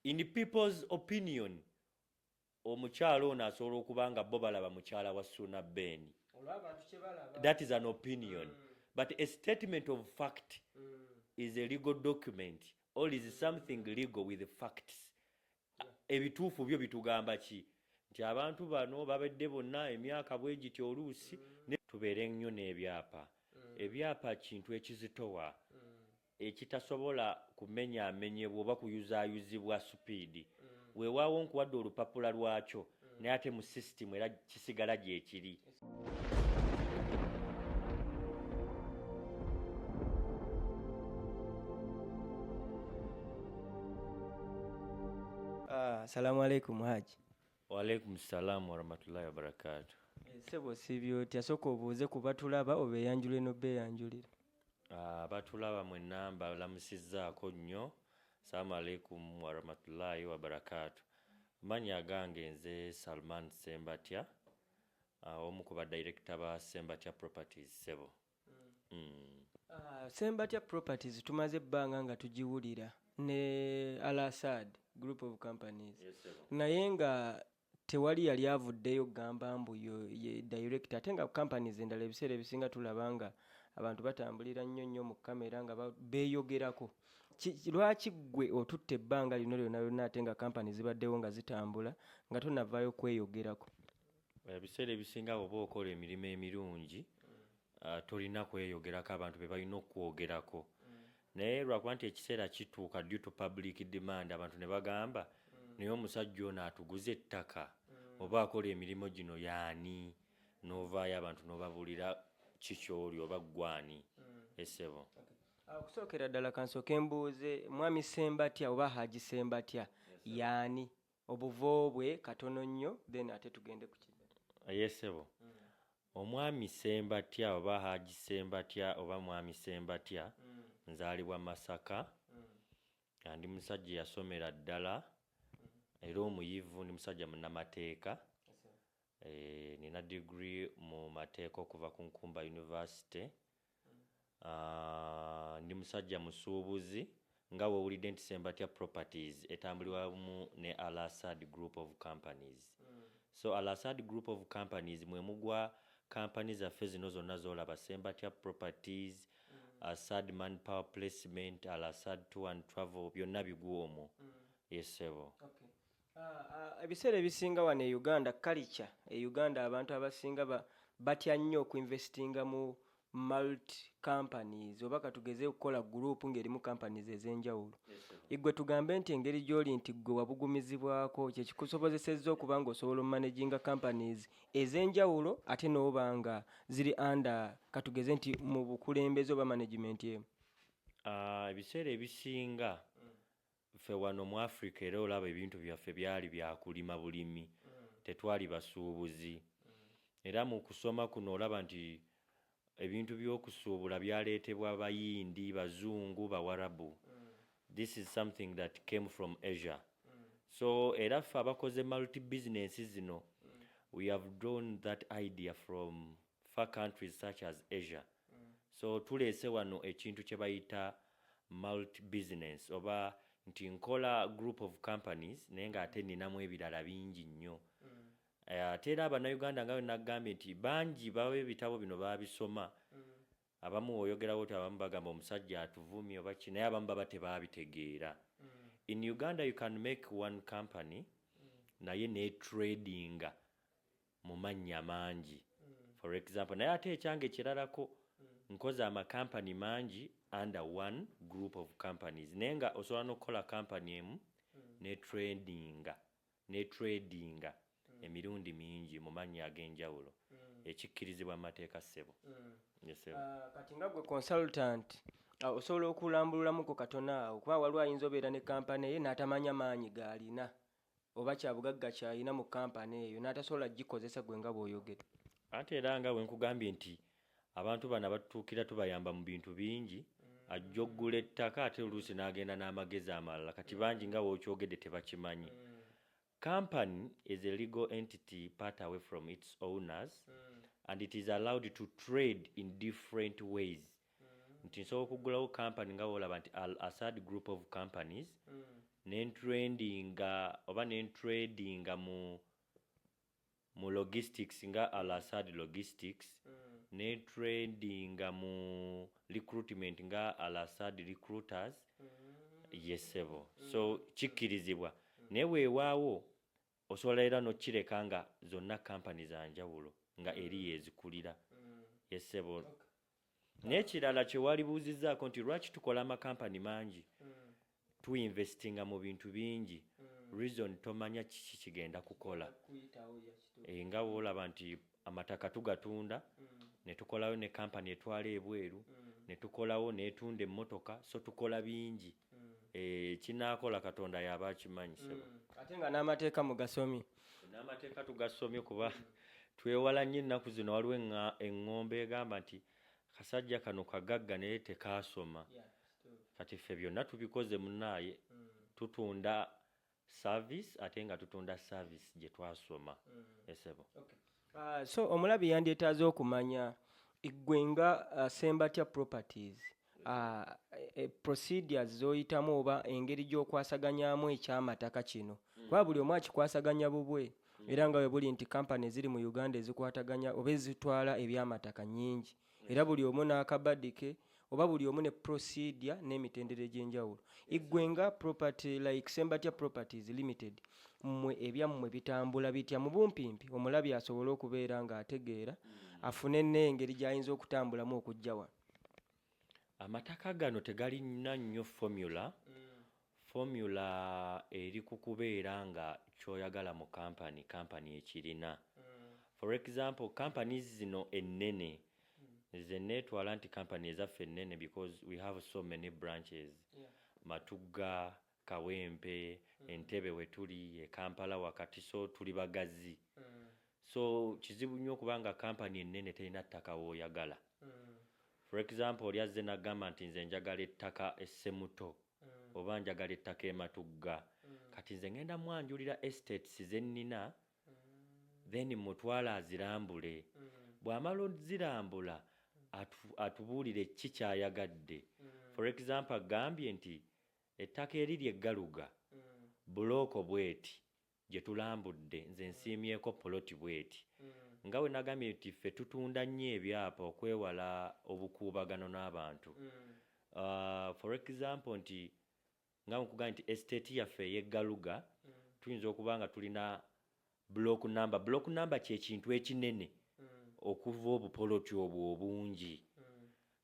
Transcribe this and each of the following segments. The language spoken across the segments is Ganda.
in people's opinion omukyala ono asobola okuba nga bo balaba mukyala wa suuna ben that is an opinion mm. but a statement of fact mm. is a legal document all is something legal with facts ebituufu byo bitugamba ki nti abantu bano babadde bonna emyaka bwe giti oluusi mm. tubeere nnyo n'ebyapa mm. ebyapa kintu ekizitowa mm. ekitasobola kumenyamenyebwa oba kuyuzaayuzibwa supiidi, weewaawo nkuwadde olupapula lwakyo naye ate mu sisitimu era kisigala gyekiri. Assalamu alaikum Haji. Wa alaikum salam wa rahmatullahi wa barakatuh. Ssebo osiibye otya? Sooka obuuze ku batulaba obeeyanjule n'obeeyanjulira. Ah, batulaba mwenna mbalamusizzaako nnyo salaamu aleikum warahmatullahi wabarakaatu manya agange nze salman sembatya ah, omu ku badirekita ba sembatya properties sebo mm. mm. ah, sembatya properties tumaze ebbanga nga tugiwulira ne alasad group of companies yes, naye nga tewali yali avuddeyo kugamba mbu ye director ate nga companies endala ebiseera ebisinga tulaba nga abantu batambulira nnyo nnyo mu kamera nga beeyogerako lwaki ggwe otutte ebbanga lino lyona lyona ate nga kampani zibaddewo nga zitambula nga tonavaayo kweyogerako ebiseera ebisinga bwoba okola emirimu emirungi uh, tolina kweyogerako abantu bebalina okukwogerako mm. naye lwakuba nti ekiseera kituuka due to public demand abantu ne bagamba mm. naye omusajja ono atuguza ettaka mm. oba akola emirimu gino yaani novaayo abantu nobabulira kikyoli oba ggwani mm. esebo okay. Ah, okusookera ddala kansooke mbuuze mwami sembatya oba haji sembatya yaani obuvo bwe katono nnyo then ate tugende ku kino yesebo mm. Omwami Ssembatya oba Haji Ssembatya oba Mwami Ssembatya nzaalibwa Masaka nga ndi musajja eyasomera ddala era omuyivu, ndi musajja munnamateeka, nnina diguli mu mateeka okuva ku Nkumba University Aah ndi musajja musuubuzi nga wewulidde nti Sembatya properties etambulirwamu ne Al Asad group of companies so Al Asad group of companies mwemugwa company zaffe zino zonna zolaba Sembatya properties, Asad man power placement, Al Asad tour and travel byonna bigwa omwo yes ssebo. ebiseera ebisinga wano e uganda kalica e uganda abantu abasinga batya nnyo okuinvestinga mu mult companies oba katugeze okukola gurupu ngaerimu companies ez'enjawulo igwe tugambe nti engeri gy'oli nti ggwe wabugumizibwako kyekikusobozesezza okuba nga osobola omumanaginga companies ez'enjawulo ate n'oba nga ziri anda katugeze nti mu bukulembeze oba management emu ebiseera ebisinga Ffe wano mu Africa era olaba ebintu byaffe byali bya kulima bulimi, tetwali basuubuzi. Era mu kusoma kuno olaba nti ebintu by'okusuubula byaleetebwa Bayindi, Bazungu, Bawarabu. This is something that came from Asia. So era ffe abakoze multi business zino, we have drawn that idea from far countries such as Asia so tuleese wano ekintu kyebayita multi business oba nti nkola group of companies naye nga ate ninamu ebirala bingi nnyo ate era abanauganda nga wenakugambye nti bangi baba ebitabo bino babisoma abamu oyogerawo oti abamu bagamba omusajja atuvumye oba ki naye abamu baba tebabitegeera in uganda you can make one company naye netradinga mu mannya mangi for example naye ate ekyange kiralako nkoze amakampani mangi under one group of companies naye nga osobola n'okukola kampani emu ne tradinga ne tradinga emirundi mingi mu mannya ag'enjawulo ekikkirizibwa mu mateeka ssebo Yes, sir. Ah, kati nga gwe consultant ah, osobola okulambululamuko katona awo kuba waliwo ayinza obeera ne kampani ye n'atamanya maanyi gaalina oba kyabugagga kyalina mu kampani eyo n'atasobola gikozesa gwe nga bw'oyogedde. Ate era nga bwe nkugambye nti abantu bano abatutuukira tubayamba mu bintu bingi, ajja okugula ettaka ate oluusi n'agenda n'amagezi amalala kati bangi nga w'okyogedde tebakimanyi. Kampani is a legal entity part away from its owners and it is allowed to trade in different ways nti nsobola okuggulawo company nga bwolaba nti al asad group of companies nentrendinga oba nentradinga mu mu logistics nga al asad logistics netradinga mu recruitment nga al asad recruiters yesebo so kikkirizibwa naye weewaawo Osobola era nokireka nga zonna company zanjawulo nga eri yezikulira ye ssebo. Nekirala kyewalibuuzizaako nti lwaki tukola ama company mangi tu investinga mu bintu bingi reason tomanya kiki kigenda kukola nga wolaba nti amataka tugatunda netukolayo ne kampani etwala ebweru netukolawo netunda emmotoka so tukola bingi eh, kinakola katonda yaba akimanyi sebo ate nga n'amateeka mugasomye n'amateeka tugasomye kuba twewala nnyo ennaku zino waliwo eŋŋa- eŋŋombe egamba nti kasajja kano kagagga naye tekaasoma kati ffe byonna tubikoze munaaye tutunda service ate nga tutunda service gye twasoma mm. esebo eh, okay. uh, so omulabi yandyetaaze okumanya eggwe nga uh, ah, sembatya properties uh, e, procedures zoyitamu oba engeri gyokwasaganyamu ekyamataka kino mm. kuba buli omu akikwasaganya bubwe mm. era nga webuli nti kampani ziri mu uganda ezikwataganya oba ezitwala ebyamataka nyingi era buli omu n'akabadi ke oba buli omu ne procedure n'emitendera egy'enjawulo iggwe nga property like sembatya properties limited mmwe ebyammwe bitambula bitya mu bumpimpi omulabi asobole okubeera ng'ategeera hmm. afune n'engeri gy'ayinza okutambulamu okujja wano amataka gano tegalina nnyo formula mm. Formula eri ku kubeera nga kyoyagala mu company, company ekirina. For example companies zino ennene, nze netwala nti company ezaffe ennene because we have so many branches, Matugga, Kawempe, Entebbe wetuli, e Kampala wakati so tuli bagazi. So kizibu nnyo okuba nga company ennene terina ttaka woyagala. For example oli azze nagamba nti nze njagala ettaka e Ssemuto mm. oba njagala ettaka ematugga mm. kati nze ngenda mwanjulira estates zennina mm. then mutwala azirambule mm. bw'amala ozirambula atubuulire ki kyayagadde mm. for example agambye nti ettaka eriri eggaluga mm. bulooko bweti gyetulambudde nze nsiimyeko poloti bweti nga wenagambye nti ffe tutunda nnyo ebyapa okwewala obukuubagano n'abantu for example nti nga nkugambye nti estate yaffe eye Galuga tuyinza okuba nga tulina block number block number kyekintu ekinene okuva obupoloti obwo obungi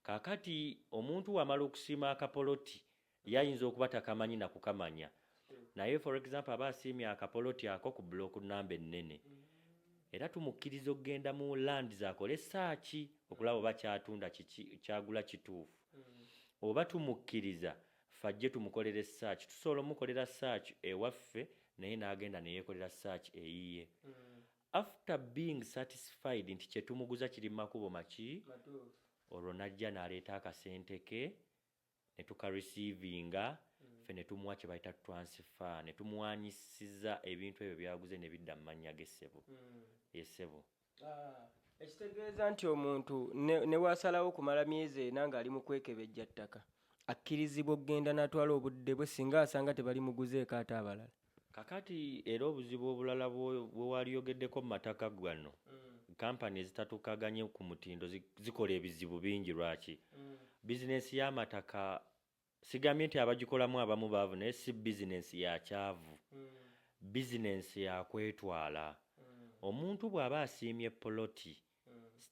kakati omuntu wamala okusiima akapoloti Ye ayinza okuba takamanyi na kukamanya naye for example aba asiimye akapoloti ako ku block namba ennene era tumukkiriza okugenda mu lands akole saaki okulaba oba kyatunda kiki kyagula kituufu oba tumukkiriza fajje tumukolere search tusobola omukolera search ewaffe naye n'agenda ne yeekolera search eyiye after being satisfied nti kye tumuguza kiri mu makubo maki olwo n'ajja n'aleeta akasente ke ne tuka receivinga ffe ne tumuwa kye bayita transfer ne tumuwanyisiza ebintu ebyo byaguze ne bidda mu mannya ge ssebo. Yee ssebo. Ekitegeeza nti omuntu ne ne bw'asalawo okumala myezi ena ng'ali mu kwekebejja ttaka akkirizibwa okugenda n'atwala obudde bwe singa asanga tebalimuguzeeko ate abalala? Kakati era obuzibu obulala bwewalyogeddeko mu mataka gano mm. company ezitatukaganye ku mutindo zikola ebizibu bingi lwaki mm. bizinensi y'amataka sigambye nti abagikolamu abamu baavu naye si bizinensi ya kyavu mm. bizinensi yakwetwala mm. omuntu bw'aba asiimye poloti mm.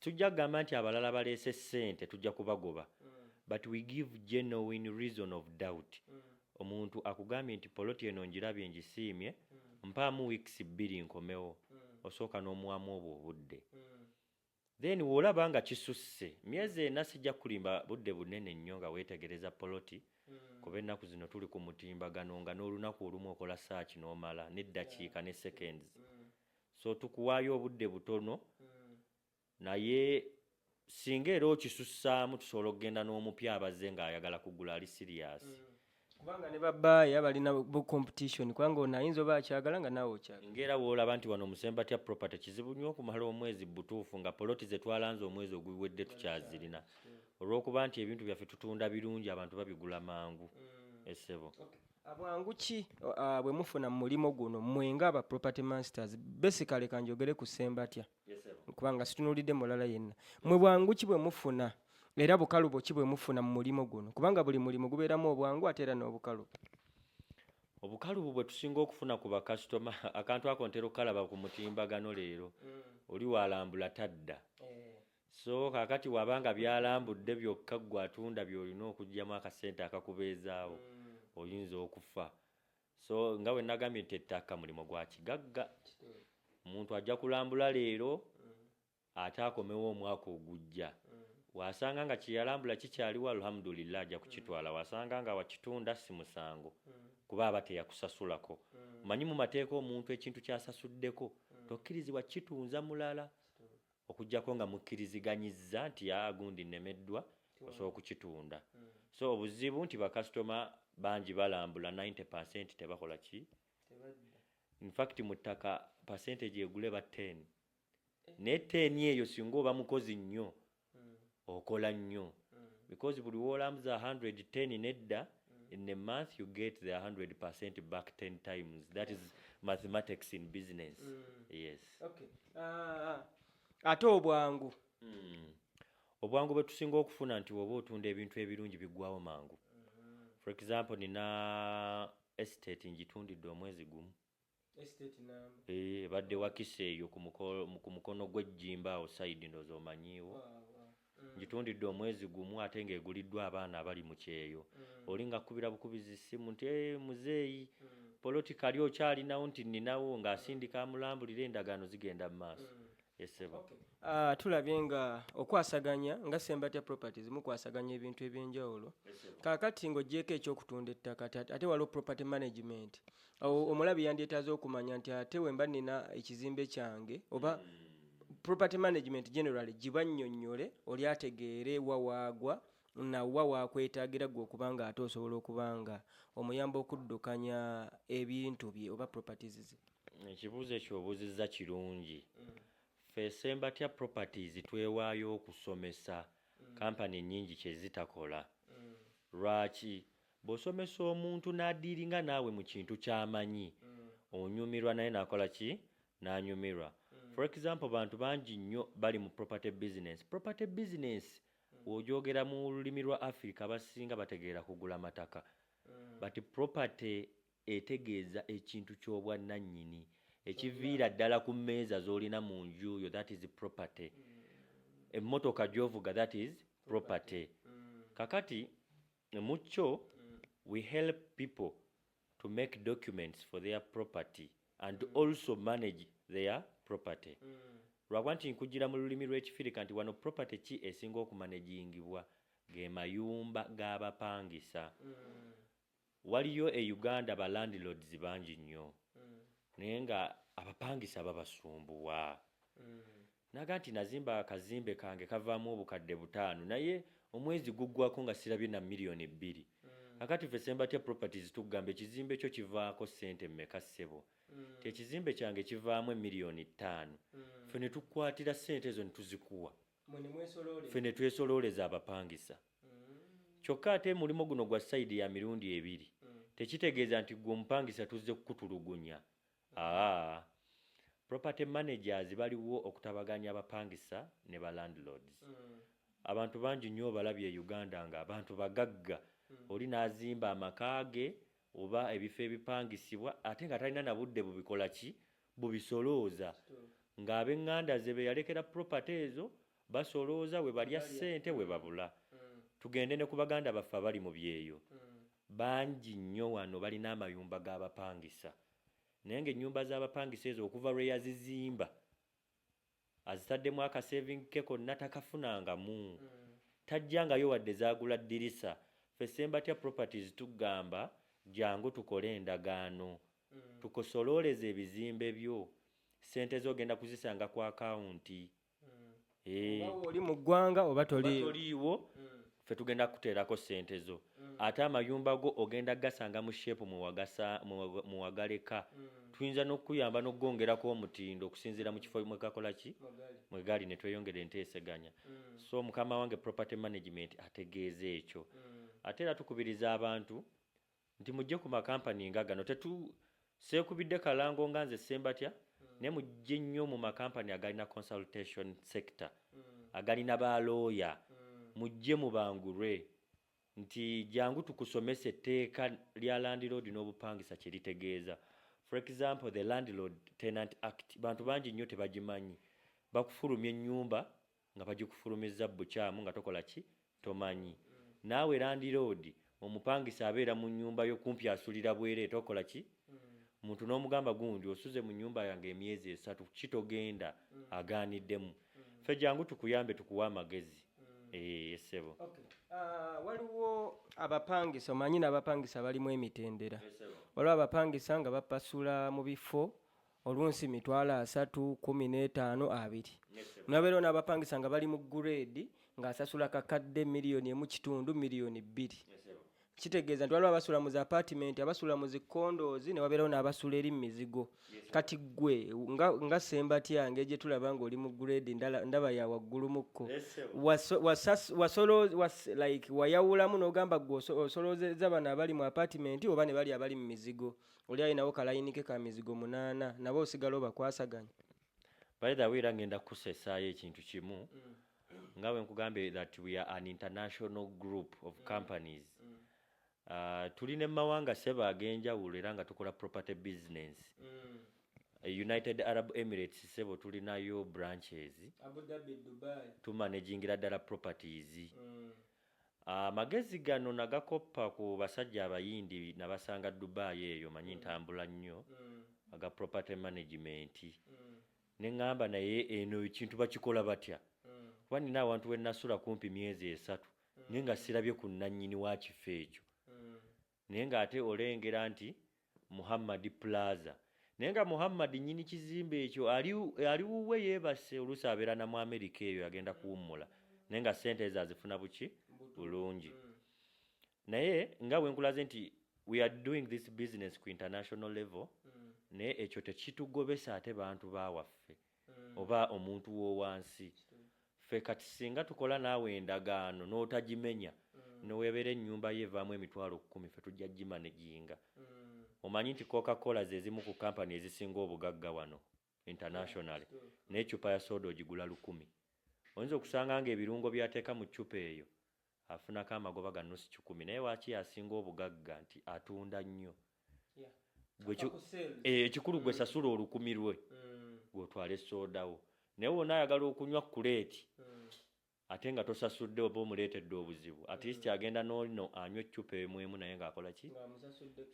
tujja kugamba nti abalala baleese ssente tujja kubagoba but we give genuine reason of doubt omuntu akugambye nti poloti eno njirabye njisiimye mpaamu weeks bbiri nkomewo osooka n'omuwamu obwo obudde then wolaba nga kisusse myezi ena sijja kulimba budde bunene nnyo nga weetegereza poloti mm. kuba ennaku zino tuli ku mutimbagano nga n'olunaku olumu okola saaki n'omala n'eddakiika ne seconds mm. so tukuwaayo obudde butono naye singa era okisussaamu tusobola okugenda n'omupya abazze ng'ayagala kugula ali siriyasi mm. kubanga ne babaaya balina bu competition kubanga ono ayinza oba akyagala nga naawe okyagala ngaera woolaba nti wano omusembatya property kizibu nnyo okumala omwezi butuufu nga poloti ze twalanze omwezi oguwedde tukyazirina olw'okuba nti ebintu byaffe tutunda birungi abantu babigula mangu mm. esebo okay. Bwangu ki uh, bwe mufuna mu mulimu guno mmwe nga aba property masters basically kanjogere ku Ssembatya kubanga situnulidde mulala yenna mmwe bwangu ki bwe mufuna era bukalubo ki bwe mufuna mu mulimu guno kubanga buli mulimu gubeeramu obwangu ate era n'obukalubo obukalubu bwe tusinga okufuna ku bakasitoma akantu ako ntera okukalaba ku mutimbagano leero mm. oli walambula tadda eh. So kakati waba nga byalambudde byokka ggwe atunda byolina okugyamu akasente akakubeezaawo mm. oyinza okufa so nga bwe nagambye nti ettaka mulimu gwa kigagga omuntu ajja kulambula leero mm. ate akomewo omwaka ogujja mm. wasanga nga kyeyalambula kikyaliwo alhamdulillah ajja kukitwala mm. wasanga nga wakitunda si musango mm. kuba aba teyakusasulako mm. manyi mu mateeka omuntu ekintu kyasasuddeko mm. tokkirizibwa kitunza mulala Okuggyako nga mukkiriziganyizza nti aa gundi nnemeddwa osobola okukitunda. So obuzibu nti bakasitoma bangi balambula ninety per cent tebakola ki? In fact mu ttaka percentage egula eba ten naye ten eyo singa oba mukozi nnyo okola nnyo because buli wolamza 110 nedda in a month you get the 100 percent back 10 times that is mathematics in business yes ah, ate obwangu hmm. obwangu bwetusinga okufuna nti woba otunda ebintu ebirungi biggwawo mangu for example nina estate ngitundidde omwezi gumu eh, ebadde wakisa eyo ku mukono gw'ejjimba awo sayidi ndoza omanyiiwo mm. ngitundidde omwezi gumu ate ng'eguliddwa abaana abali mu kyeyo mm. oli ngakubira bukubizi ssimu nti eh, muzeeyi mm. politikali okyalinawo nti nninawo ng'asindika amulambulira endagaano zigenda mu maaso esebo okay. uh, tulabye nga okwasaganya nga sembatya properties mukwasaganya ebintu ebyenjawulo kakati ng'ogyeko ekyokutunda ettaka ate waliwo property management awo omulabi yandyetaaze okumanya nti ate wemba nina ekizimbe kyange oba hmm. property management generally giba nnyonnyole oli ategeere wa waagwa nawa wakwetagira gwe okuba nga ate osobola okuba nga omuyamba okuddukanya ebintu bye oba properties ze ekibuuzo ekyo obuuzizza kirungi mm. fe sembatya properties twewaayo okusomesa mm. kampani nyingi kyezitakola mm. lwaki Bwosomesa omuntu nadiilinga naawe mu kintu kyamanyi onyumirwa naye nakola ki? Nanyumirwa. For example bantu bangi nnyo bali mu property business. Property business wogyogera mu lulimi lwa Africa abasinga bategeera kugula mataka but property etegeeza ekintu kyobwa nannyini ekiviira ddala ku mmeeza zolina mu nju yo that is property. Emmotoka gyovuga that is property. Kakati Mu kyo, we help people to make documents for their property and also manage their property. Lwakuba nti nkujjira mu lulimi lw'Ekifirika nti wano property ki esinga okumanegingibwa? Ge mayumba g'abapangisa. Waliyo e Uganda ba landlords bangi nnyo naye nga abapangisa babasumbuwa. N'agamba nti, Nazimba akazimbe kange kavaamu obukadde butaano naye omwezi guggwaako nga sirabye na million bbiri. Kaakati ffe Ssembatya Properties tukugamba ekizimbe kyo kivaako ssente mmeka ssebo? Nti, Ekizimbe kyange kivaamu emillion ttaano. Ffe ne tukukwatira ssente ezo ne tuzikuwa. Ffe ne twesolooleza abapangisa. Kyokka ate mulimo guno gwa side ya mirundi ebiri. Tekitegeeza nti ggwe omupangisa tuzze kukutulugunya. Haa property managers baliwo okutabaganya abapangisa ne ba landlords. Abantu bangi nyo obalabye e Uganda nga abantu bagagga oli nazimba amaka ge oba ebifo ebipangisibwa ate nga talina na budde bubikola ki? bubisolooza. Nga abenganda ze beyalekera property ezo basolooza webalya sente webabula. Tugende ne ku baganda baffe abali mu byeyo Bangi nnyo wano balina amayumba g'abapangisa naye ng'ennyumba z'abapangisa ezo okuva lwe yazizimba azitaddemu akaseevingi ke konna takafunangamu, taggyangayo wadde zaagula ddirisa. Ffe Ssembatya Properties tugamba jjangu tukole endagaano tukosolooleze ebizimbe byo, ssente zo ogenda kuzisanga ku akawunti. Eh. oba oli mu ggwanga oba toliiwo mm. fe tugenda kuteerako ssente zo mm. ate amayumba go ogenda gasanga mu sheepu mwewagaleka mm. tuyinza n'okukuyamba n'okugwongerako omutindo okusinziira mu kifo mwegakola ki mwegali ne tweyongera enteeseganya so mukama wange property management ategeeza ekyo ate era tukubiriza abantu nti mujje ku makampani nga gano tetu seekubidde kalango nga nze sembatya mm. naye mujje nnyo mu makampani agalina consultation sector mm. agalina ba looya mm. mujje mubangulwe nti jangu tukusomesa etteeka lya landlord n'obupangisa kye litegeeza for example the landlord tenant act bantu bangi nnyo tebagimanyi bakufulumya ennyumba nga bagikufulumizza bukyamu nga tokola ki tomanyi naawe landiroodi omupangisa abeera mu nnyumba yo kumpi asulira bweree tokola ki muntu n'omugamba gundi osuze mu nnyumba yange emyezi esatu ki togenda agaaniddemu ffe jangu tukuyambe tukuwe amagezi ee ssebo ah, waliwo abapangisa omanyi n'abapangisa balimu emitendera waliwo abapangisa nga bapasula mu bifo olunsi mitwalo asatu kumi n'etaano abiri nabeera onaabapangisa nga bali mu gureedi ng'asasula kakadde miliyoni emu kitundu miliyoni bbiri kitegeeza nti waliwo abasula mu zaapatimenti abasula mu zikondoozi ne wabeerawo n'abasula eri mu mizigo kati ggwe nga sembatya ngeri gye tulaba ng'oli mu gureedi ndaba ya waggulumukko wayawulamu n'ogamba gwe osoloozeza bano abali mu apatimenti oba ne bali abali mu mizigo oli alinawo kalayinike ka mizigo munaana nabo osigala obakwasaganya by the way era ngenda kukusesaayo ekintu kimu mm. nga bwe nkugambye that we are an international group of mm. companies mm. Uh, tuli ne mumawanga seba ag'enjawulo era nga tukola property business mm. Eh, united arab emirates sebo tulinayo branches tumanagingira ddala properties mm. Amagezi gano nagakoppa ku basajja abayindi nabasanga Dubai eyo manyi ntambula nnyo aga property management ne ngamba naye eno ekintu bakikola batya kuba nina awantu wenasula kumpi myezi esatu naye nga sirabye ku nanyini wakifo ekyo Naye nga ate olengera nti Muhammad plaza. Naye nga Muhammad nyini kizimbe ekyo ali ali wuwe yebasse olusi abera na mu America eyo agenda kuwummula. Naye nga sente ezo azifuna buki bulungi. Mm. Naye nga wenkulaze nti we are doing this business ku international level. Mm. Naye ekyo tekitugobesa ate bantu bawaffe. oba omuntu wowansi fe kati singa tukola naawe endagaano notagimenya newebera enyumba yo evaamu emitwalo kkumi fe tujja gimaneginga omanyi nti coca cola zezimu ku company ezisinga obugagga wano internationally naye eccupa ya soda ogigula lukumi oyinza okusanga nga ebirungo byateeka mu ccupa eyo afunako amagoba ga nusu kikumi naye waki yasinga obugagga nti atunda nnyo eh, ekikulu gwe mm. sasula olukumi lwe mm. gwotwale sodawo naye wona ayagala okunywa kuleeti mm. ate nga tosasudde oba omuleetedde obuzibu at least agenda nolino anywa eccupa emwemu naye ngaakola ki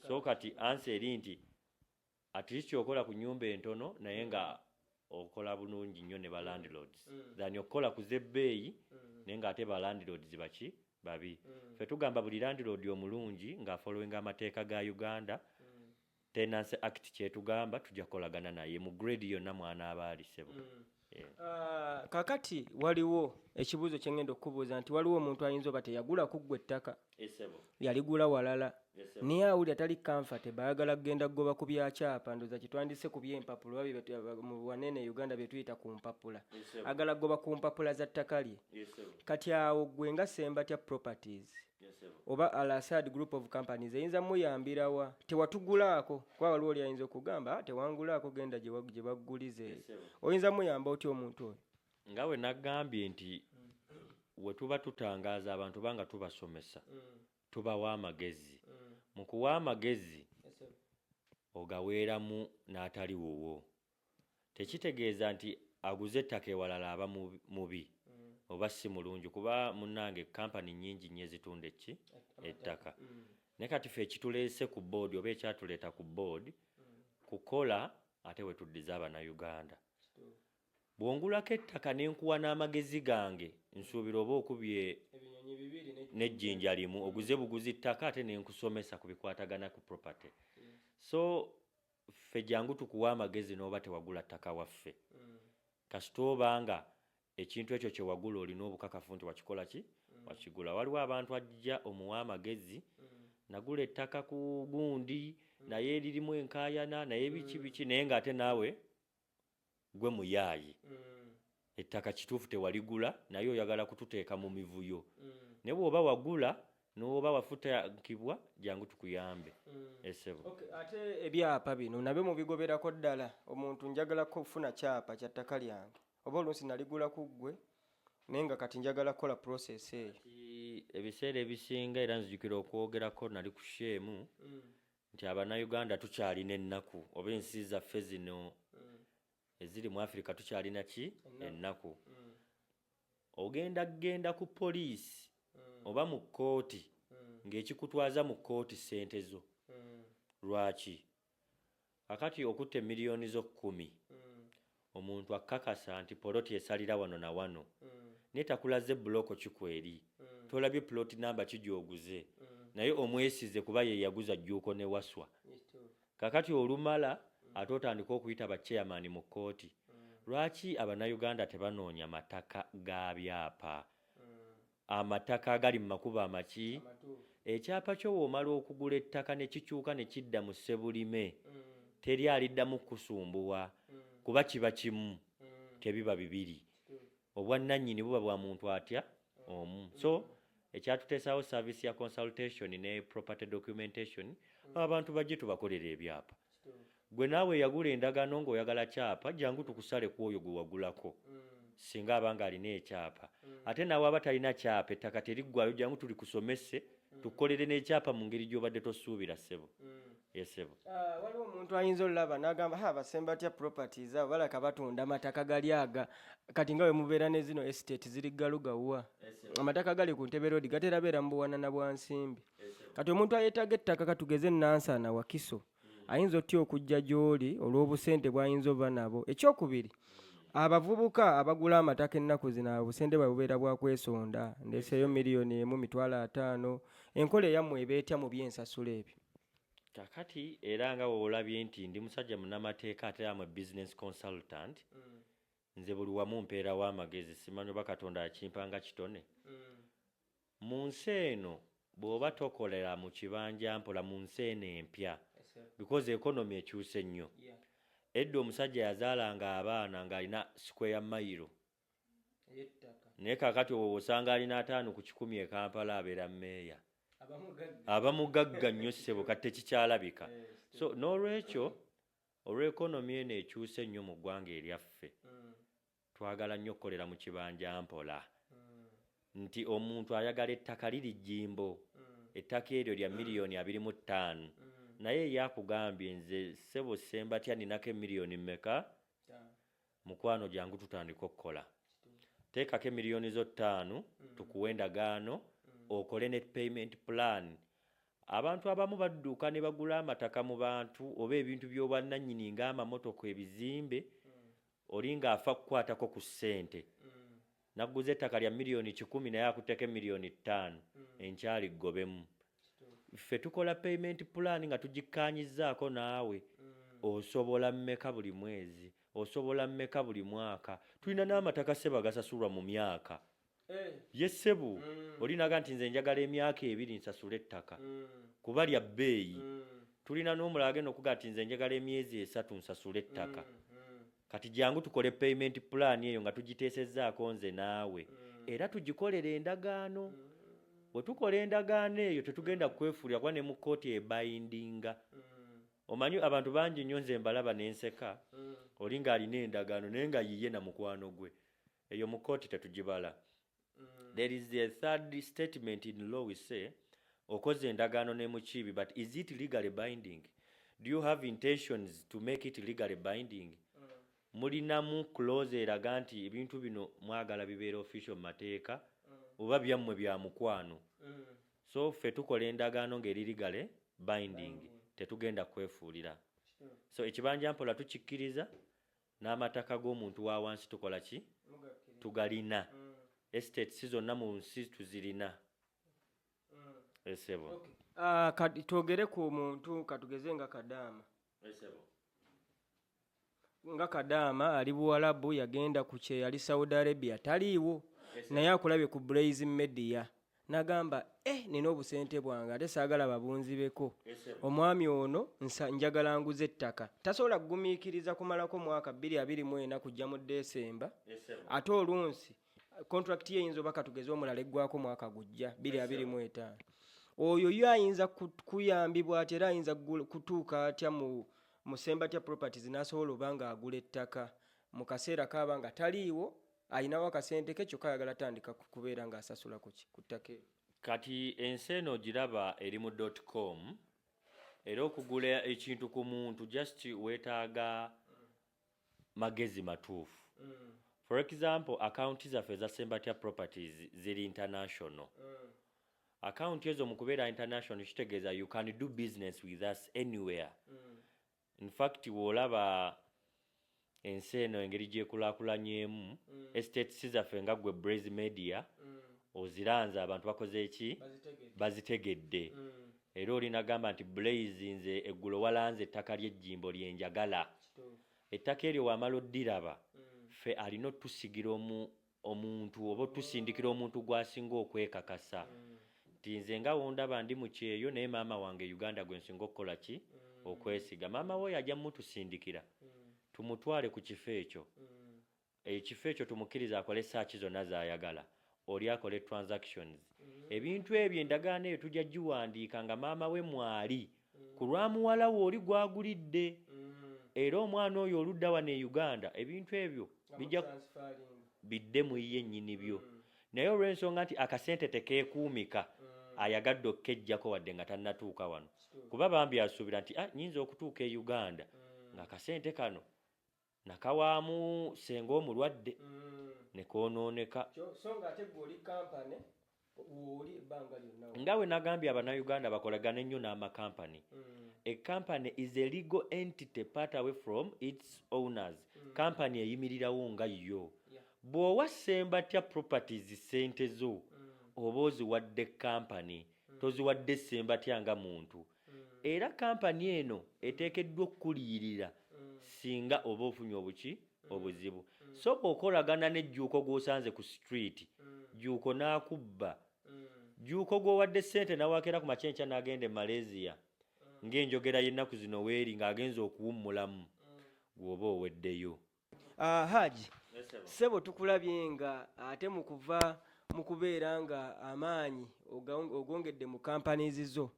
so kati ansi eri nti At least okola ku nyumba entono naye nga okola bulungi nnyo ne ba landlords than okukola ku z'ebbeeyi naye nga ate ba landlords baki babi. Ffe tugamba buli landlord omulungi nga afollowinga amateeka ga Uganda Tenancy Act ky'etugamba tujja kukolagana naye mu grade yonna mw'anaaba ali ssebo. Ah, kakati waliwo ekibuuzo kyengenda okukubuuza nti waliwo omuntu ayinza oba teyagula kuggwa ettaka yaligula walala naye awulira tali kanfate baagala kugenda kugoba ku byakyapa ndoza kitwandise ku byempapula mu wanene uganda byetuyita ku mpapula agala kugoba ku mpapula za ttaka lye kati awo gwe nga sembatya properties oba al asad group of companies eyinza muyambirawa tewatugulaako kuba waliwo oli ayinza okugamba ah, tewangulaako genda gye baggulize oyinza muyamba otya omuntu oyo nga we nagambye nti we tuba tutangaaza abantu banga tubasomesa mm. tubawa amagezi mm. mu kuwa amagezi ogaweeramu n'atali wuwo tekitegeeza nti aguze ettaka ewalala aba mubi oba si mulungi kuba munnange kkampani nnyingi nnyo ezitunda ekki ettaka naye kati fe ekituleese ku boodi oba ekyatuleeta ku boodi kukola ate we tuddiza abanayuganda bw'ongulako ettaka ne nkuwa n'amagezi gange nsuubira oba okubye n'ejjinja limu oguze buguzi ttaka ate ne nkusomesa ku bikwatagana ku property so ffe jangu tukuwe amagezi noba tewagula ttaka waffe kasita oba nga ekintu ekyo kyewagula olina obukakafu nti wakikola ki wakigula waliwo abantu ajja omuwa amagezi nagula ettaka ku gundi naye eririmu enkayana naye biki biki naye nga ate naawe gwe muyaaye mm. ettaka kituufu tewaligula naye oyagala kututeeka mu mivuyo mm. ne bwoba wagula nowoba wafutakibwa jangu tukuyambe mm. esebo okay, ate ebyapa bino nabyo mubigoberako ddala omuntu njagala kufuna kyapa kya ttaka lyange oba oluusi naligula ku ggwe naye nga kati njagala kukola process eyo ebiseera ebisinga era nzijukira okwogerako nali ku sheemu mm. nti abanauganda tukyalina ennaku oba ensi zaffe zino mm. eziri mu afirika tukyalina ki ennaku mm. ogenda kugenda ku poliisi mm. oba mu kkooti mm. ng'ekikutwaza mu kkooti ssente zo mm. lwaki akati okutta emiliyoni zo kkumi mm. Omuntu akukakasa nti poloti esalira wano na wano naye takulaze block ki kweri, tolabye plot number ki gyoguze naye omwesize kuba yeyaguza Jjuuko ne Waswa. Kakati olumala ate otandike okuyita ba chairman mu kooti. Lwaki abanauganda tebanoonya mataka ga byapa? Amataka agali mu makubo amaki? Ekyapa kyo w'omala okugula ettaka ne kikyuka ne kidda mu Ssebulime, teri aliddamu kukusumbuwa kuba kiba kimu, tebiba bibiri. Obwannannyini buba bwa muntu atya? Omu. So, ekyatuteesaawo service ya consultation ne property documentation, abantu bajje tubakolere ebyapa. gwe naawe yagula endagaano ng'oyagala kyapa jangu tukusale ku oyo gwe wagulako singa aba nga alina ekyapa ate naawe aba talina kyapa ettaka teriggwayo jangu tuli kusomese tukolere n'ekyapa mu ngeri gy'obadde tosuubira ssebo esebo mm. ah, waliwo omuntu ayinza olulaba n'agamba ha basemba batya properties abo balaka batunda amataka gali aga kati nga wemubeera ne zino estate ziri galugawwa amataka gali ku ntebe roodi gatera beera mu buwanana bwa nsimbi kati omuntu ayetaaga ettaka katugeze enansaana wakiso ayinza otya okujja gy'oli olw'obusente bw'ayinza oba nabo ekyokubiri abavubuka abagula amataka ennaku zino obusente bwe bubeera bwa kwesonda ndeseeyo miliyoni emu mitwalo ataano enkola eyammwe eba etya mu by'ensasula ebyo kakati era nga weolabye nti ndi musajja munamateeka ate amwe business consultant mm. Nze buli wamu mpeerawo amagezi simanyi oba Katonda akimpa nga kitone. Mu nsi eno bw'oba tokolera mu kibanjampola mu nsi eno empya because economy ekyuse nnyo. Edda omusajja yazaalanga abaana ng'alina square mile naye kaakati osanga alina ataano ku kikumi e Kampala abeera mmeeya. Aba mugagga nnyo ssebo kati tekikyalabika so n'olwekyo. Olwa economy eno ekyuuse ennyo mu ggwanga eryaffe, twagala nnyo okukolera mu kibanja mpola nti omuntu ayagala ettaka liri jjimbo, ettaka eryo lya million abiri mu ttaanu naye ye akugambye nze ssebo Ssembatya ninako e million mmeka? Mukwano jangu tutandika okukola. Teekako emiliyoni zo ttaano mm. tukuwe endagaano mm. okole ne payment plan. Abantu abamu badduka ne bagula amataka mu bantu oba ebintu by'obwannannyini ng'amamotoka, ebizimbe, mm. oli ng'afa kukwatako ku ssente. Nagguze ettaka lya miliyoni kikumi naye akutteko miliyoni ttaano hmm. enkyali ggobemu. Ffe tukola payment plan nga tugikkaanyizzaako naawe hmm. osobola mmeka buli mwezi osobola mmeka buli mwaka tulina n'amataka seba gasasulwa mu myaka eh. ye sebu hmm. olinaga nti nze njagala emyaka ebiri nsasule ettaka kuba lya bbeeyi tulina n'omulala agenda okuga nti nze njagala emyezi esatu nsasule ettaka Kati jangu tukole payment plan eyo nga tugiteesezzaako nze naawe mm. era tugikolere endagaano mm. bwe tukola endagaano eyo tetugenda mm. kwefuulira kuba ne mu kkooti ebayindinga mm. omanyi abantu bangi nnyo nze mbalaba ne nseka mm. oli ng'alina endagaano naye nga yiye na mukwano gwe eyo mu kkooti tetugibala mm. there is a third statement in law we say okoze endagaano ne mukiibi but is it legally binding do you have intentions to make it legally binding mm. mulinamu close eraga nti ebintu bino mwagala bibeera official mu mateeka mm. oba byammwe bya mukwano mm. so ffe tukola endagaano ng'eri legally binding mm. tetugenda kwefuulira so ekibanja mpola tukikkiriza N'amataka g'omuntu wa wansi tukola ki? Tugalina. Estate si zonna mu nsi tuzirina. Eh, ssebo. Ah, kati twogere ku muntu katugeze nga kadaama Eh, ssebo. nga kadaama ali buwalabu yagenda ku kyeyali saudi arabia taliiwo naye akulabye ku blaze media nagamba eh nina obusente bwange ate saagala babunzibeko omwami ono njagala nguze ettaka tasobola kugumiikiriza kumalako mwaka bbiri abiri mu ena kujja mu desemba ate olunsi kontrakiti ye eyinza oba katugeze omulala eggwako mwaka gujja bbiri abiri mu etaano oyo yo ayinza kuyambibwa ati era ayinza kutuuka atya mu musembatya properties n'asobola oba nga agula ettaka mu kaseera kaaba nga taliiwo alinawo akasente ke kyokka ayagala tandika kubeera ng'asasula ku ki ku ttaka ero kati ensi eno ogiraba eri mu dot com era okugula ekintu ku muntu just weetaaga magezi matuufu mm. for example akawunti zaffe eza sembatya properties ziri international mm. akawunti ezo mu kubeera international kitegeeza you can do business with us anywhere mm. In fact bw'olaba ensi eno engeri gy'ekulaakulanyemu, mm. estates zaffe nga ggwe Braze Media mm. oziranze abantu bakoze eki bazitegedde mm. era olinagamba nti Blaze nze eggulo walanze ettaka ly'ejjimbo lye njagala ettaka eryo wamala oddiraba mm. ffe alina otusigira omu omuntu oba tusindikira omuntu gwasinga okwekakasa nti nze nga wondaba ndi mu kyeyo naye maama wange uganda gwe nsinga okukola ki mm. okwesiga maama woyo ajja mutusindikira mm. tumutwale ku kifo ekyo mm. ekifo ekyo tumukkiriza akole saaki zonna zayagala oli akole transactions ebintu ebyo endagaano eyo tujja giwandiika nga maama we mwali ku lwa muwala we oli gw'agulidde era omwana oyo oludda wano e Uganda ebintu ebyo bijja bidde mu ye nnyini byo naye olw'ensonga nti akasente tekeekuumika ayagadde okukeggyako wadde nga tannatuuka wano kuba bambi asuubira nti ah, nyinza okutuuka e Uganda ng'akasente kano Nakawaamu senga omulwadde nekonooneka. Nga wenagambye abanauganda bakolagane nnyo n'ama company. A company is a legal entity part away from its owners. Company eyimirirawo nga yo. Bwowa Ssembatya properties ssente zo oba oziwadde company toziwadde Ssembatya nga muntu. era kampani eno eteekeddwa okukuliyirira singa oba ofunye obuki obuzibu so bw'okolagana ne Jjuuko gw'osanze ku situliti Jjuuko n'akubba Jjuuko gw'owadde ssente n'awaako era ku makya enkya n'agenda e Malaysia ng'enjogera y'ennaku zino weeri ng'agenze okuwummulamu ggwe oba oweddeyo. Ah, Haji ssebo tukulabye nga ate mu kuva mu kubeera nga amaanyi oga- ogongedde mu companies zo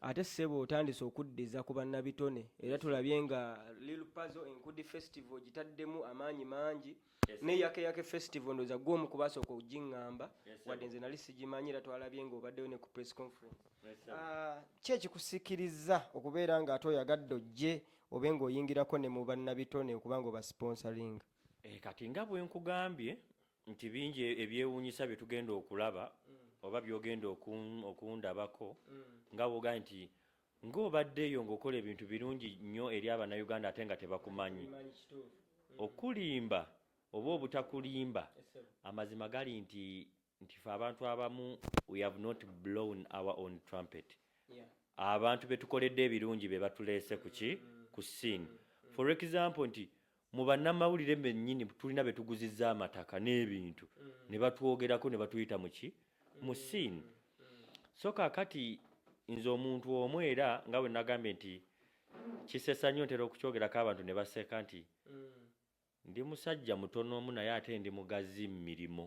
ate ssebo otandise okuddiza ku bannabitone era tulabye nga Lil Pazo Enkudi Festival gitaddemu amaanyi mangi ne Yake Yake Festival ndoza gwe omu kubasooka okugingamba wadde nze nali sigimanyi era twalabye nga obaddeyo ne ku press conference Ah, ki ekikusikiriza okubeera nga ate oyagadde ojje obe nga oyingirako ne mu bannabitone okuba nga obasiponsalinga eh, kati nga bwe nkugambye nti bingi e-, ebyewuunyisa bye tugenda okulaba mm. oba byogenda okundabako mm. nga woga nti ng'obaddeyo ng'okola ebintu birungi nnyo eri abannayuganda ate nga tebakumanyi mm. okulimba oba obutakulimba amazima gali nti nti fe abantu abamu we have not blown our own trumpet abantu betukoledde ebirungi be batuleese kuki ku scene for example nti mu bannamawulire bennyini tulina be tuguzizza amataka n'ebintu ne batwogerako ne batuyita muki mu scene so kakati nze omuntu omu era nga bwe nagambye nti kisesa nnyo ntera okukyogerako abantu ne baseka nti Ndi musajja mutono mu naye ate ndi mugazi mu mirimu.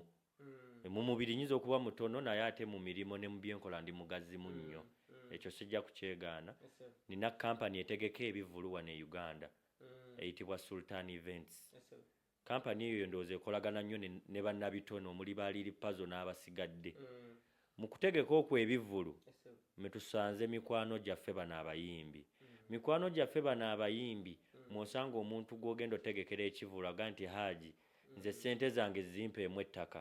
Mu mubiri nnyinza okuba mutono naye ate mu mirimu ne mu bye nkola ndi mugazi munnyo. Ekyo sijja kukyegaana. Nnina kkampani etegeka ebivvulu wano e Uganda eyitibwa Sultan Events. Kkampani eyo ndowooza ekolagana nnyo ne bannabitone omuli ba Lil Pazo n'abasigadde. Mu kutegeka okwo ebivvulu mwe tusanze mikwano gyaffe bano abayimbi. Mikwano gyaffe bano abayimbi mw'osanga omuntu gw'ogenda otegekera ekivvulu aga nti Haji nze ssente zange zimpeemu ettaka,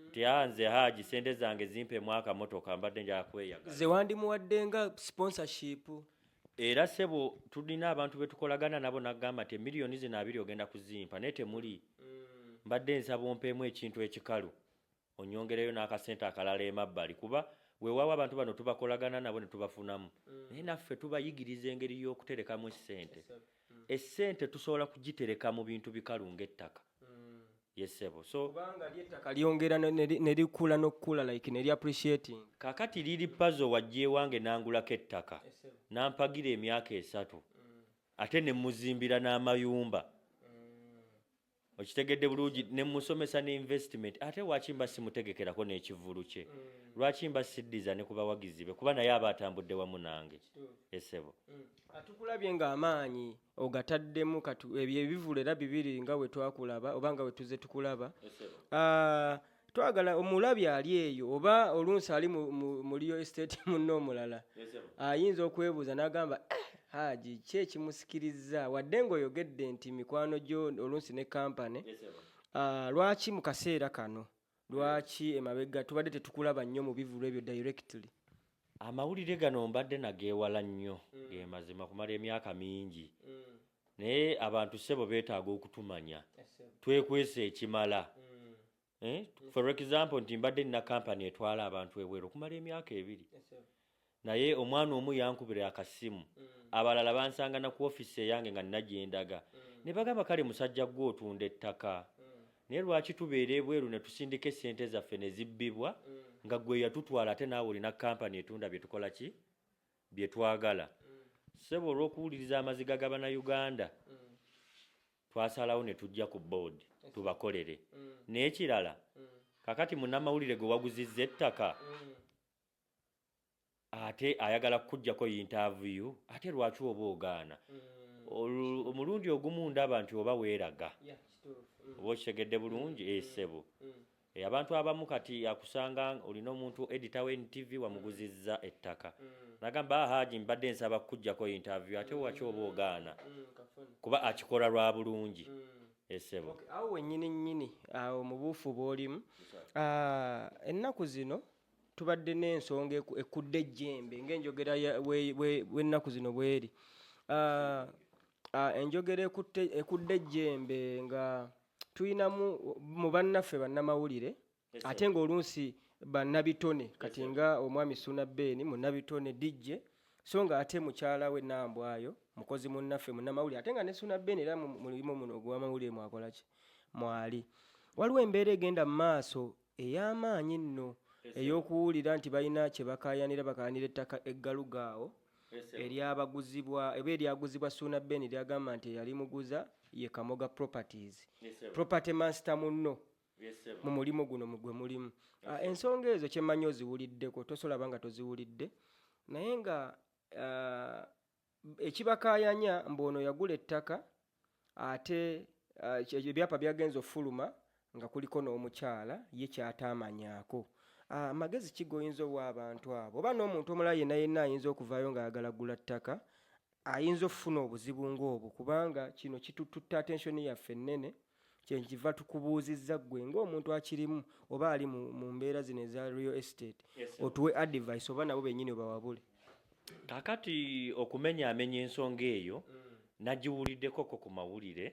nti haa nze Haji ssente zange zimpeemu akamotoka mbadde njagala kweyagala. Ze wandimuwadde nga sponsorship. Era ssebo tulina abantu be tukolagana nabo n'agamba nti emiliyoni zino abiri ogenda kuzimpa naye temuli, mbadde nsaba ompeemu ekintu ekikalu. onyongereyo n'akasente akalala emabbali kuba weewaawo abantu bano tubakolagana nabo ne tubafunamu mm. naye naffe tubayigiriza engeri y'okuterekamu essente mm. essente tusobola kugitereka mu bintu bikalu ng'ettaka mm. yesebo so kubanga lyettaka lyongera ne likula n'okukula like ne liappreciating kakati liri pazo wajja ewange nangulako ettaka nampagira emyaka esatu ate ne muzimbira n'amayumba okitegedde bulungi ne musomesa ne investment ate lwaki mba simutegekerako n'ekivulu kye mm. lwaki mba siddiza ne ku bawagizi be kuba naye aba atambudde wamu nange esebo mm. atukulabye ng'amaanyi ogataddemu ebyo ebivulu era bibiri nga we twakulaba oba nga we tuze tukulaba ah, twagala omulabi ali eyo oba olunsi ali muliyo estate munne omulala ayinza okwebuuza n'agamba eh, haji ki ekimusikiriza wadde ng'oyogedde nti mikwano gyo olunsi ne kampani ah, lwaki mu kaseera kano lwaki emabega tubadde tetukulaba nnyo mu bivulu ebyo directly Amawulire gano mbadde nageewala nnyo mm. ge mazima kumala emyaka mingi mm. naye abantu ssebo beetaaga okutumanya twekwesa ekimala mm. eh? for example nti mbadde nina kampani etwala abantu ebweru okumala emyaka ebiri naye omwana omu yankubira akasimu abalala bansangana ku ofisi eyange nga nina gyendaga ne bagamba kale musajja gwe otunda ettaka naye lwaki tubeera ebweru ne tusindika esente zaffe ne zibbibwa mm. nga gwe yatutwala ate naawe olina kampani etunda bye tukola ki bye twagala mm. ssebo olw'okuwuliriza amaziga ga bannayuganda mm. twasalawo ne tujja ku boodi tubakolere naye kirala kakati munnamawulire gwe waguzizza ettaka ate ayagala kukujjako yintaavuyu ate lwaki oba ogaana mm. omulundi ogumu ndaba nti oba weeraga mm. oba okitegedde bulungi mm. esebo eh, eh, abantu abamu kati akusanga olina omuntu edita we ntv wamuguzizza ettaka nagamba ah, haji mbadde nsaba kukujjako yintaavuyu ate waki oba ogaana kuba akikola lwa bulungi esebo eh, awo wenyini nyini awo mubuufu bwolimu ah, ennaku zino tubadde n'ensonga ekudde ejjembe ng'enjogera bw'ennaku zino bweri ah, ah, enjogera ekudde ejjembe nga tulinamu mu bannaffe bannamawulire ate ng'oluusi bannabitone kati nga omwami suna beeni munnabitone dijje so nga ate mukyala we nambwayo mukozi munnaffe munnamawulire ate nga ne suna beeni era mulimu muno ogwamawulire mwakolaki mwali waliwo embeera egenda mu maaso ey'amaanyi nno ey'okuwulira nti balina kye bakaayanira bakaayanira ettaka eggaluga awo eryabaguzibwa oba eryaguzibwa Suuna Ben lyagamba nti eyali muguza ye Kamoga Properties property mansita munno mu mulimu guno gwe mulimu ah, ensonga ezo kye mmanyi oziwuliddeko tosolaba nga toziwulidde naye nga ah, ekibakaayanya mbu ono yagula ettaka ate eh, ebyapa byagenza ofuluma nga kuliko n'omukyala ye kyataamanyako ah, amagezi ki goyinza owa abantu abo oba n'omuntu omulala yenna yenna ayinza okuvaayo ng'ayagala gula ttaka ayinza okufuna obuzibu ng'obwo kubanga kino kitututte attention yaffe ennene kyenkiva tukubuuzizza ggwe ng'omuntu akirimu oba ali mu mbeera zino eza real estate otuwe advice oba nabo bennyini obawabule kakati okumenya amenya ensonga eyo mm. nagiwuliddekoko ku mawulire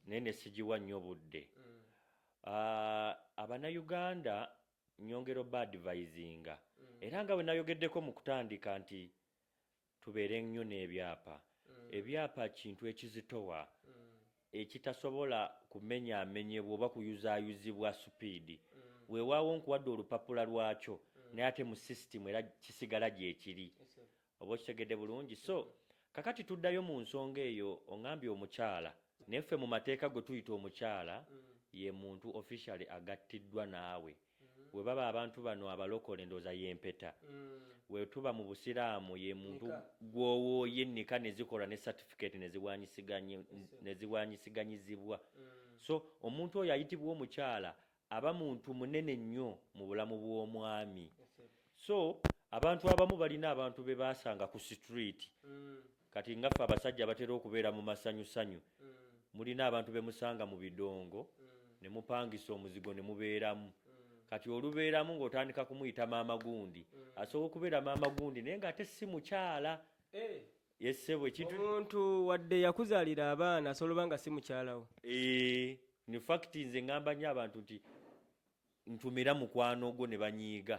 naye ne sigiwa nnyo budde mm. ah, abanayuganda nyongera oba advisinga mm. era nga bwe nayogeddeko mu kutandika nti tubeere nnyo n'ebyapa. Ebyapa kintu ekizitowa ekitasobola kumenyaamenyebwa oba kuyuzaayuzibwa supiidi. Weewaawo nkuwadde olupapula lwakyo naye ate mu sisitimu era kisigala gyekiri. Oba okitegedde bulungi? So, kakati tuddayo mu nsonga eyo, ongambye omukyala. Naye ffe mu mateeka gwe tuyita omukyala ye muntu officially agattiddwa naawe. webaba abantu bano abalokole ndoza yempeta mm. wetuba mu busiraamu ye muntu gwowoye nika nezikola ne certificate neziwanyisiganyizibwa mm. so omuntu oyo ayitibwa omukyala aba muntu munene nnyo mu bulamu bw'omwami so abantu abamu balina abantu bebasanga ku street mm. Kati nga ffe abasajja abatera okubeera mu masanyusanyu, mulina abantu be musanga mu bidongo ne mupangisa omuzigo ne mubeeramu. Kati olubeeramu ng'otandika kumuyita maama gundi. Asobola okubeera maama gundi naye ng'ate si mukyala. Yee ssebo, ekintu. Omuntu wadde yakuzaalira abaana asobola oba nga si mukyala wo. Eeh, in fact nze ngamba nnyo abantu nti ntumira mukwano gwo ne banyiiga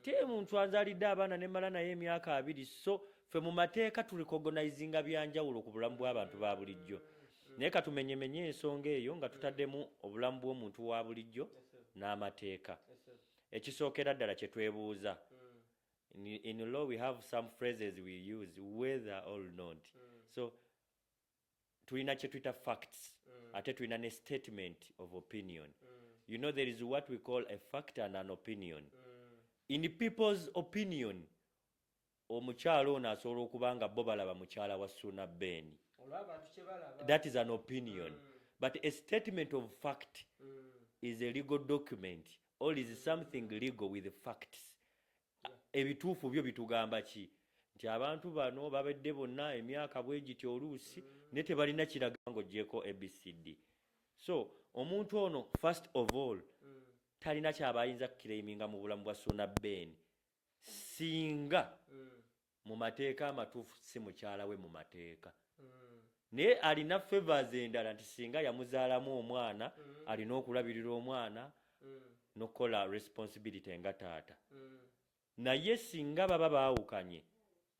teri muntu azalidde abaana nemala naye emyaka abiri so fe mu mateeka tulikogonizinga byanjawulo ku bulamu bw'abantu ba bulijjo naye katumenyemenye ensonga eyo nga tutaddemu obulamu bw'omuntu wa bulijjo n'amateeka ekisookera ddala kye twebuuza in law we have some phrases we use whether or not so tulina kyetuyita facts mm. ate tulina ne statement of opinion mm. you know there is what we call a fact and an opinion mm. in people's opinion omukyala ono asobola okuba nga bo balaba mukyala wa suna beni that is an opinion mm. but a statement of fact mm. is a legal document or is something legal with facts ebituufu byo bitugamba ki nti abantu bano babadde bonna emyaka bwegiti oluusi naye tebalina kiraga ngaogyeko abcd so omuntu ono first of all talina kyabayinza kukiraiminga mu bulamu bwa suna ben singa mu mateeka amatuufu si mukyala we mu mateeka mm. naye alina favors endala nti singa yamuzaalamu omwana mm. alina okulabirira omwana mm. nokukola responsibility nga taata mm. naye singa baba baawukanye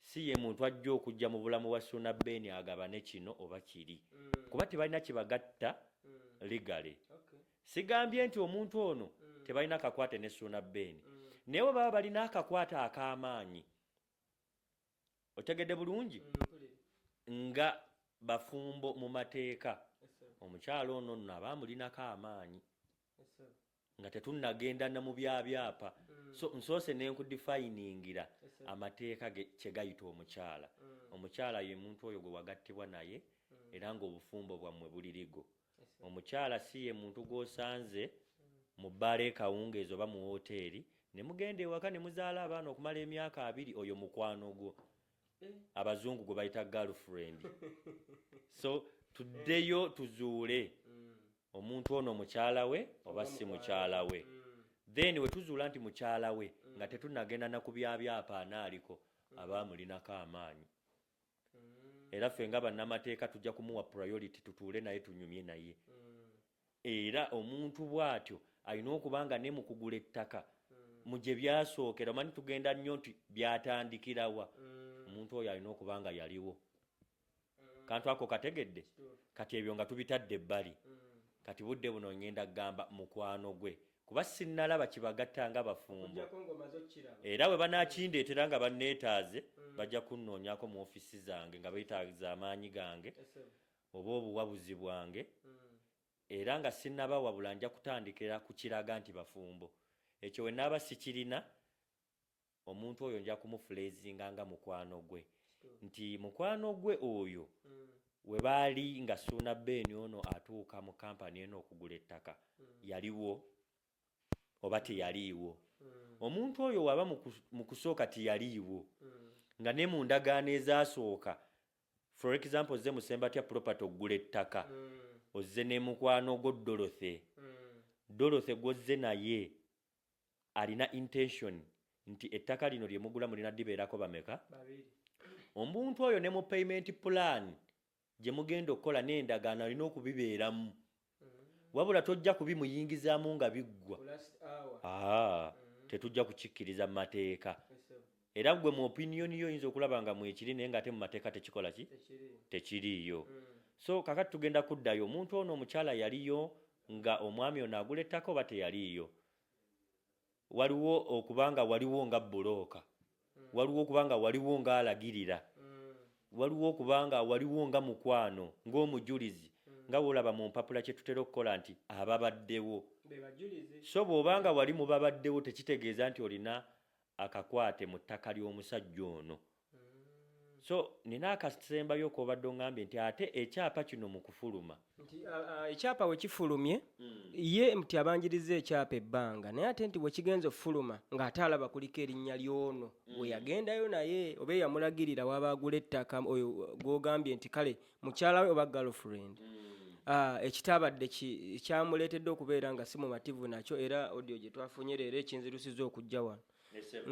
si ye muntu ajja okujja mu bulamu bwa suna beni agabane kino oba kiri mm. kuba tebalina kibagatta mm. legale okay. sigambye nti omuntu ono mm. tebalina kakwate ne suna beni mm. naye bwe baba balina akakwate ak'amaanyi mm. otegedde bulungi mm, nga bafumbo mu mateeka omukyalo ono nno aba amulinako amaanyi nga tetunnagenda na mu byabyapa mm. so nsoose nenkudifayiningira amateeka kye gayita omukyala mm. omukyala ye muntu oyo gwe wagattibwa naye era ng'obufumbo bwammwe bulirigo omukyala si ye muntu gw'osanze mu bbaala ekawungeezi oba mu wooteeri ne mugenda ewaka ne muzaala abaana okumala emyaka abiri oyo mukwano gwo eh. abazungu gwe bayita girlfriend so tuddeyo tuzuule mm. omuntu ono mukyala we oba si mukyala we mm. then we tuzuula nti mukyala we mm. nga tetunagenda na ku byabyapa anaaliko aba amulinako amaanyi era ffe nga bannamateeka tujja kumuwa priority tutuule naye tunyumye naye era omuntu bw'atyo alina okuba nga ne mu kugula ettaka mu gye byasookera omanyi tugenda nnyo nti byatandikirawa omuntu oyo alina okuba nga yaliwo kantu ako kategedde kati ebyo nga tubitadde ebbali kati budde buno ngenda kugamba mukwano gwe kuba sinnalaba kibagatta nga bafumbo era bwe banaakindeetera nga banneetaaze mm. bajja kunnoonyako mu ofiisi zange nga beetaaza amaanyi gange oba obuwabuzi bwange mm. era nga sinnabawabula nja kutandikira ku kiraga nti bafumbo ekyo we naaba sikirina omuntu oyo nja kumufuleezinga nga mukwano gwe nti mukwano gwe oyo mm. we baali nga suuna beeni ono atuuka mu kampani eno okugula ettaka mm. yaliwo oba teyaliiwo mm. omuntu oyo waba mu kusooka tiyaliiwo nga ne mu ndagaano ezasooka for example ozze musembatya property okugula ettaka ozze ne mukwano gwo dorothy dorothy gwozze naye alina intention nti ettaka lino lye mugula mulina dibeerako bameka omuntu oyo ne mu payment plan gye mugenda okukola n'endagaano alina okubibeeramu mm. wabula tojja kubimuyingizaamu nga biggwa ah, mm. tetujja kukikkiriza mu mateeka era gwe mu opinion yo oyinza okulaba nga mwekiri naye nga ate mu mateeka tekikola ki tekiriiyo mm. so kakati tugenda kuddayo omuntu ono omukyala yaliyo nga omwami ono agula ettaka oba teyaliiyo waliwo okubanga waliwo nga bulooka mm. waliwo okubanga waliwo nga alagirira mm. waliwo okubanga waliwo nga mukwano ng'omujulizi nga wolaba mu mpapula kye tutera okukola nti ababaddewo so bw'obanga wali mu babaddewo tekitegeeza nti olina akakwate mu ttaka ly'omusajja ono. So nina akasembayo kobadde ongambye nti ate ekyapa kino mu kufuluma. Nti ekyapa we kifulumye hmm. ye nti abanjiriza ekyapa ebbanga naye ate nti we kigenza okufuluma ng'ate alaba kuliko erinnya ly'ono hmm. we yagendayo naye oba eyamulagirira waba agula ettaka oyo gw'ogambye nti kale mukyala we oba girlfriend Ah, ekitabadde ki- kyamuleetedde okubeera nga si mumativu nakyo era odio gye twafunye leero ekinzirusiza okujja wano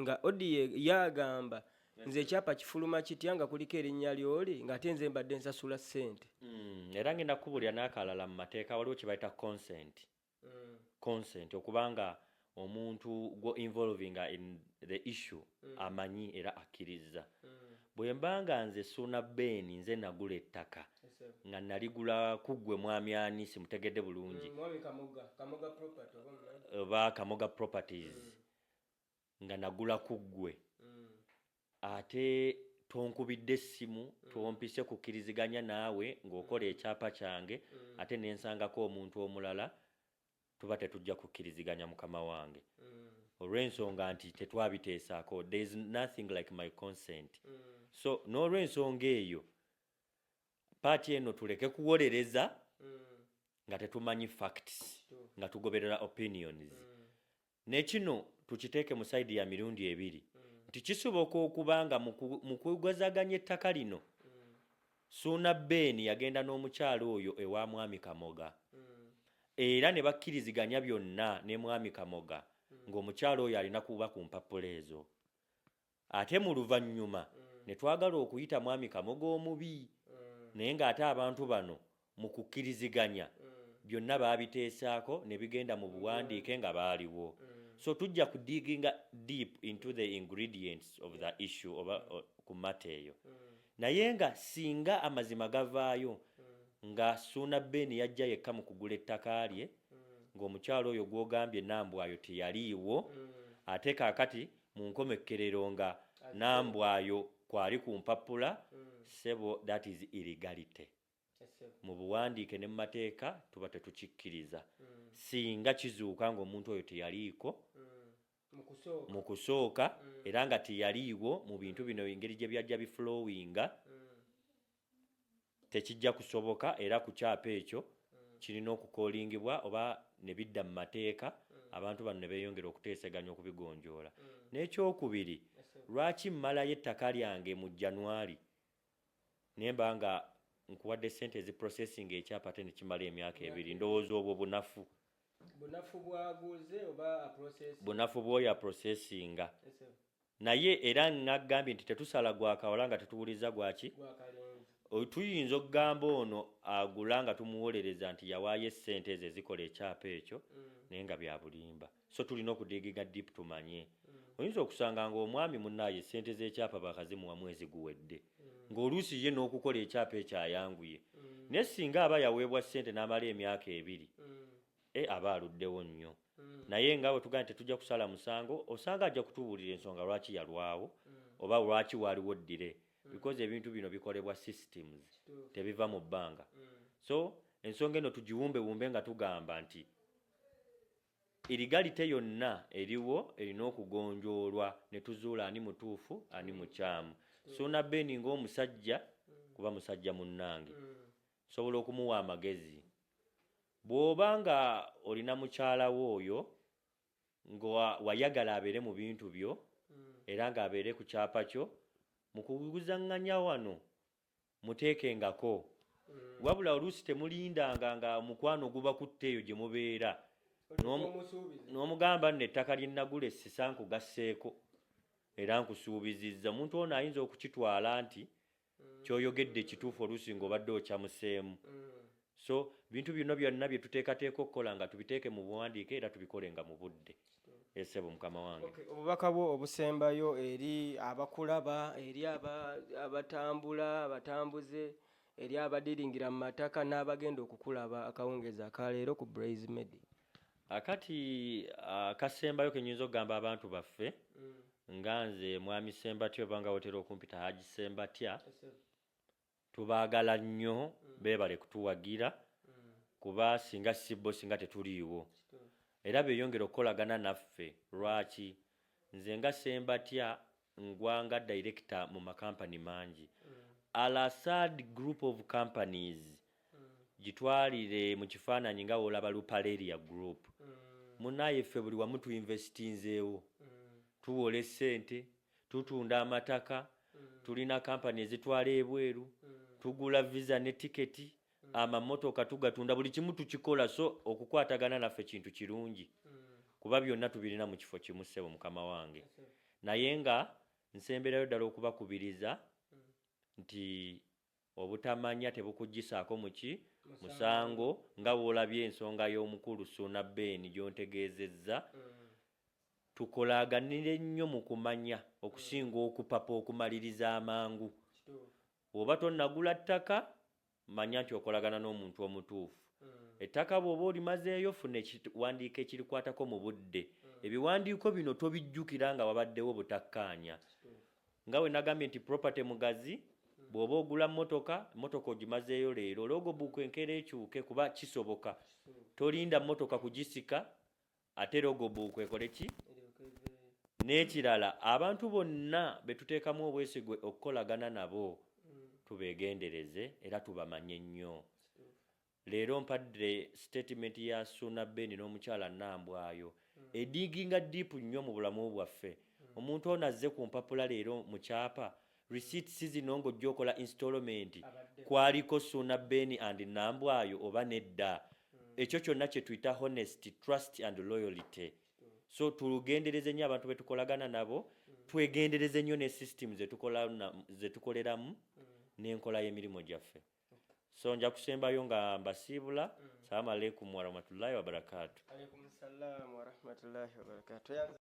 nga odio yagamba nze ekyapa kifuluma kitya nga kuliko erinnya lyoli ng'ate nze mbadde nsasula ssente Mm, era ngenda kukubulira n'akalala mu mateeka waliwo kye bayita consent consent okuba nga omuntu gwo involvinga in the issue mm. amanyi era akkirizza mm. bwe mba nga nze suuna beeni nze nagula ettaka nga naligula kuggwe mwami ani simutegedde bulungi mm, oba kamoga properties mm. nga nagula ku ggwe ate tonkubidde essimu mm. tompise kukkiriziganya naawe ng'okola mm. ekyapa kyange mm. ate ne nsangako omuntu omulala tuba tetujja kukkiriziganya mukama wange olw'ensonga nti tetwabiteesaako there is nothing like my consent so n'olw'ensonga eyo paati eno tuleke kuwolereza nga tetumanyi facts nga tugoberera opinions Nekino tukiteeke mu side ya mirundi ebiri nti kisoboka okuba nga mukwegwazaganya ettaka lino Suuna Ben yagenda n'omukyala oyo ewa mwami Kamoga era ne bakkiriziganya byonna ne mwami Kamoga ng'omukyala oyo alina kuba ku mpapula ezo. Ate mu luvannyuma ne twagala okuyita Mwami Kamoga omubi naye ng'ate abantu bano mu kukkiriziganya byonna baabiteesaako ne bigenda mu buwandiike nga baaliwo. So tujja ku digging-a deep into the ingredients of the issue oba ku matter eyo. Naye nga singa amazima gavaayo nga Ssuuna Ben yajja yekka mu kugula ettaka lye ng'omukyala oyo gw'ogambye Nambwayo teyaliiwo ate kaakati Mu nkomekkerero nga Nambwayo kwali ku mpappula, ssebo that is illegality. Mu buwandiike ne mu mateeka tuba tetukikkiriza. Singa kizuuka nga omuntu oyo teyaliiko mu kusooka era nga teyaliiwo mu bintu bino engeri gye byajja biflowinga, tekijja kusoboka era ku kyapa ekyo kirina okukoolingibwa oba ne bidda mu mateeka abantu bano ne beeyongera okuteeseganya okubigonjoola. N'ekyokubiri, lwaki mmalayo ettaka lyange mu January ne mba nga nkuwadde ssente eziprosesinga ekyapa ate ne kimala emyaka ebiri? Ndowooza obwo bunafu. Bunafu bw'aguze oba aprosesinga? Bunafu bw'oyo aprosesinga. naye era nagambye nti tetusala gwa kawala nga tetuwuliriza gwaki tuyinza okugamba ono agula nga tumuwolereza nti yawaayo essente ezo ezikola ekyapa ekyo mm. naye nga byabulimba so tulina okudigiga dip tumanye mm. oyinza okusanga ngaomwami munaye esente zekyapa bakazimuwa mwezi guwedde mm. ngaoluusi ye n'okukola ekyapa ekyo ayanguye naye singa aba yaweebwa ssente n'amala emyaka ebiri e aba aluddewo nnyo mm. naye nga bwe tugana tetujja kusala musango osanga ajja kutubuulira ensonga lwaki yalwawo mm. oba lwaki waaliwo ddire mm. because ebintu bino bikolebwa systems tebiva mu bbanga so ensonga eno tugiwumbewumbe nga tugamba nti erigalite yonna eriwo erina okugonjoolwa ne tuzuula ani mutuufu ani mukyamu sona beni ngaomusajja kuba musajja munnange sobola okumuwa amagezi Bw'oba nga olina mukyala wo oyo nga wayagala abeere mu bintu byo era nga abeere ku kyapa kyo, mu kuguzanganya wano muteekengako. Wabula oluusi temulindanga nga omukwano gubakutte eyo gye mubeera n'omugamba nno ettaka lye nagula e Ssisa nkugasseeko era nkusuubizizza. Omuntu ono ayinza okukitwala nti kyoyogedde kituufu oluusi nga obadde okyamuseemu so bintu bino byonna bye tuteekateeka okukola nga tubiteeke mu buwandiike era tubikole nga mu budde esebo mukama wange obubaka bwo obusembayo eri abakulaba eri abatambula abatambuze eri abadiringira mu mataka n'abagenda okukulaba akawungeezi akaleero ku braise media akati akasembayo kenyinza okugamba abantu baffe mm. nga nze mwami sembatya oba nga wotera okumpita haji sembatya tubagala nnyo mm. bebale kutuwagira mm. kuba singa sibbo singa tetuliiwo era beyongera okukolagana naffe lwaki nze nga sembatya Ngwa nga director mu makampani mangi. Al Asad group of companies gitwalire mu kifaananyi nga wolaba Lupaleria group. Munaye ffe buli wamu tu investinzeewo. Tuwola essente, tutunda amataka, tulina company ezitwala ebweru, tugula visa ne ticket, amamotoka tugatunda buli kimu tukikola so okukwatagana naffe kintu kirungi kuba byonna tubirina mu kifo kimu ssebo mukama wange naye nga nsemberayo ddala okubakubiriza nti obutamanya tebukugyisaako muki musango nga woolabye ensonga y'omukulu suuna beeni gyontegeezezza mm. tukolaganire nnyo mu kumanya okusinga okupapa okumaliriza amangu Bw'oba tonnagula ttaka, manya nti okolagana n'omuntu omutuufu. Ettaka bw'oba olimazeeyo, funa ekiwandiiko ekirikwatako mu budde. Ebiwandiiko bino tobijjukira nga wabaddewo butakkaanya. Nga bwe nagambye nti property mugazi, bw'oba ogula mmotoka, mmotoka ogimazeeyo leero, logbook enkeera ekyuke kuba kisoboka. Tolinda mmotoka kugisika ate rogobu kwekole ki n'ekirala abantu bonna betuteekamu obwesigwe okukolagana nabo tubegendereze era tubamanye nnyo leero mpadde sitatimenti ya suuna beni n'omukyala nambwayo ediginga diipu nnyo mu bulamu bwaffe omuntu ono azze ku mpapula leero mu kyapa Receipt si zino ng'ojja okola installment kwaliko Suuna Ben and Nambwayo oba nedda ekyo kyonna kye tuyita honesty, trust and loyalty so tulugendereze nnyo abantu betukolagana nabo twegendereze nnyo ne system zetukoleramu n'enkola y'emirimu gyaffe so nja kusembayo nga mbasiibula mm. salamu aleikum warahmatullahi wabarakatu